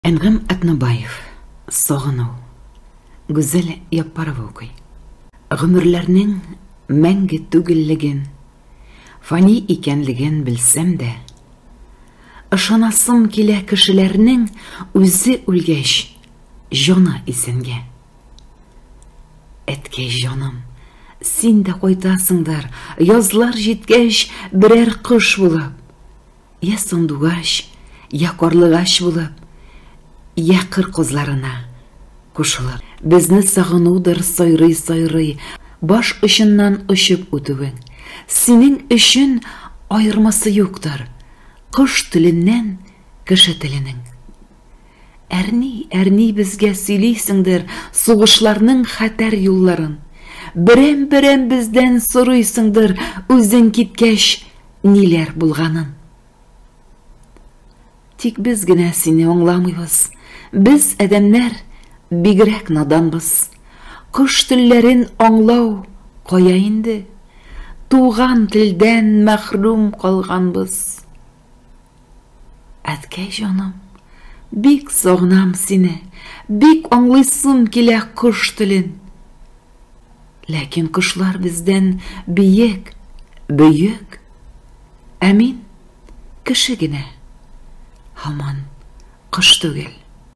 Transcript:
Әнгам Атнабаев Сагыну Гүзәл Яппарова укый. Гомерләрнең мәңге түгеллеген, фани икәнлеген белсәм дә, ышанасым килә кешеләрнең үзе үлгәч, җаны исәнгә. Әткәй җаным, син дә кайтасыңдыр, язлар җиткәч, берәр кош булып. Я сандугач, я карлыгач булып, я кыр козларына кушылып. Безне сагынудыр сайрый-сайрый, баш очыннан очып үтүең. Синең өчен аермасы юктыр, кош теленнән кеше теленең. Әрни, әрни безгә сөйлисеңдер сугышларның хәтәр юлларын. Берәм-берәм бездән сорыйсыңдыр үзең киткәч ниләр булганын. Тик без генә сине аңламыйбыз. Без, адәмнәр, бигрәк наданбыз. Кош телләрен аңлау кая инде? Туган телдән мәхрүм калганбыз. Әткәй җаным, бик сагынам сине, бик аңлыйсым килә кош телен. Ләкин кошлар бездән биек, бөек, ә мин кеше генә, һаман кош түгел.